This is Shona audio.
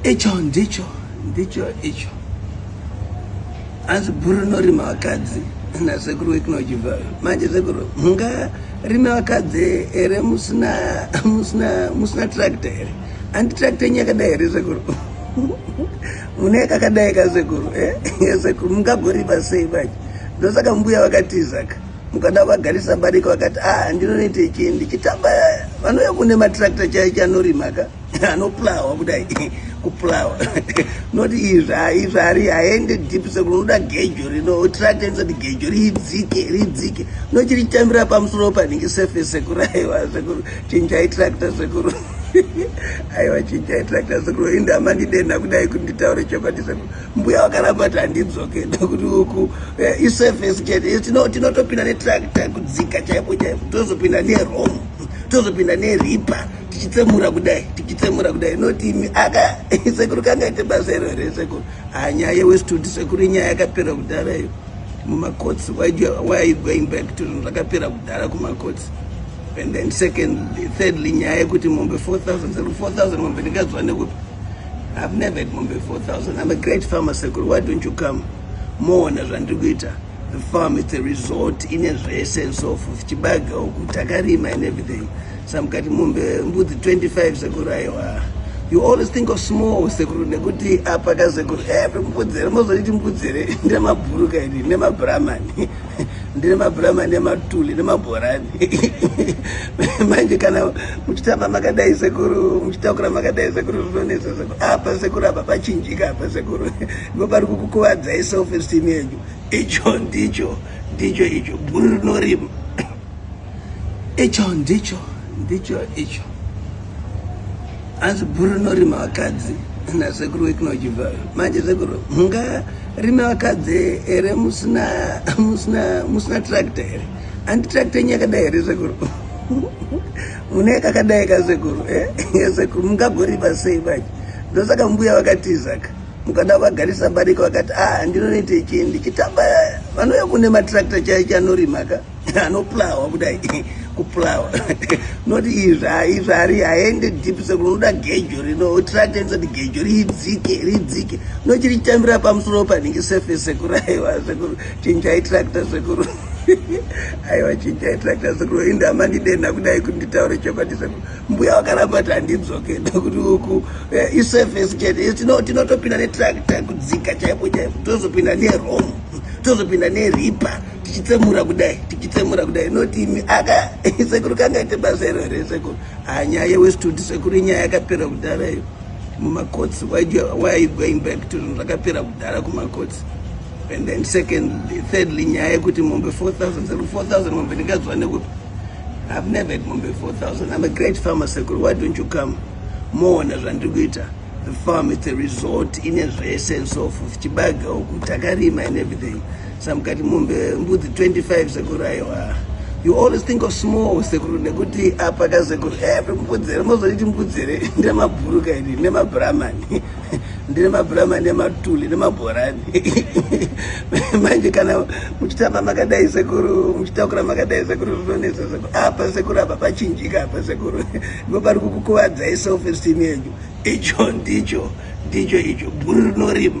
icho ndicho ndicho icho hanzi bhuru rinorima vakadzi nasekuru wekunojibva manje sekuru mungarime vakadzi here musina musina musina tractor here handi tractor yenyu yakadai here sekuru mune kakadai ka sekuru eh? sekuru mungagoripa sei manje ndosaka mbuya vakatizaka mukada vagarisa barika vakati a ah, ndinonoita ichi ndichitamba vanouya kune matrakta chai chanorima ka anoplawa kudai kuplawa not izvaizvari haende deep sekuti unoda gejo rino trakta inosati gejo ridzike ridzike nochiritambira pamusoro panhingi sefe sekuru aiwa sekuru chinjai trakta sekuru aiwa chinjai trakta sekuru indamandidenha kudai kuti nditaure chokwadi sekuru mbuya vakaramba kuti handidzoke ndokuti uku eh, isurface chete eh, tinotopinda netractor kudzika chaipo chaipo tozopinda nerom tozopinda neripa tichitsemura kudai tichitsemura kudai notimi aka sekuru kangaite basa iro here sekuru ha nyaya yewestudi sekuru inyaya yakapera kudhara iyo mumakotsi waigoing back to zvakapera kudhara kumakotsi and then secondly thirdly nyaya yekuti mombe 4000 mombe ndikadzwa nekupi I've never had mombe 4000. I'm a great farmer sekuru. Why don't you come? Moona zvandiri kuita. The farm is a resort in a sense of chibaga uku takarima and everything. Samkati mombe mbudzi 25 sekuru aiwa. You always think of small sekuru nekuti apa ka sekuru eh mbudzi here mozoti mbudzi here ndemabhuruka iri nemabramani ndine mabhurama nematuli nemabhorani manje kana muchitamba makadai sekuru muchitakura makadai sekuru zvinonesa sekuru apa sekuru apa pachinjika apa sekuru ndo pari kukukuvadzai self esteem yenyu icho ndicho ndicho icho bhuru rinorima icho ndicho ndicho icho hanzi bhuru rinorima vakadzi nasekuru wekunojibva manje sekuru mungarime vakadzi here musina musina musina tractor here handi tractor yenyu yakadai here sekuru mune kakadai ka sekuru eh? sekuru mungagorima sei manje ndosaka mbuya vakatizaka mukada vagarisa barika vakati ah ndinonoita ichii ndichitamba vanouya kune matractor chaicho anorimaka anopulawa kudai kupulawa not izva izva ari aende deep sekuru unoda gejo rino otiratidza kuti gejo ridzike ridzike nochirichitambira pamusoro panenge surface sekuru aiwa sekuru chinjai tractor sekuru aiwa chinjai tractor sekuru inde amandidenha kudai kuti nditaure chokwadi sekuru mbuya wakaramba kuti handidzoke nokuti uku eh, isurface chete tinotopinda netractor kudzika chaipo chaipo tozopinda neromo tozopinda neripa tichitsemura kudai tichitsemura kudai not imi aka sekuru kangaite basa iro here sekuru ha nyaya yewestwood sekuru inyaya yakapera kudhara iyo mumakotsi why are you going back to zvinhu zvakapera kudhara kumakotsi and then secondly thirdly nyaya yekuti mombe 4000 sekuru 4000 mombe ndingaziva nekupi i've never had mombe 4000 i'm a great farmer sekuru why don't you come moona zvandiri kuita The farm, it's a resort in a essence of Chibaga, Takarima and everything. Some got Mumbe, Mbuti 25 Sekuraiwa. You always think of small Sekuru Nekuti Apaka Sekuru. Every Mbudzere, most of it Mbudzere, Nema Buruka, Nema Brahman, Nema Brahman, Nema Tuli, Nema Boran. Manje kana muchitamba makadai sekuru, muchitakura makadai sekuru, zvinonetsa sekuru. Apa sekuru apa pachinjika apa sekuru. Ndipo pari kukukuvadza self esteem yenyu. Icho ndicho ndicho icho bhuru rinorimba.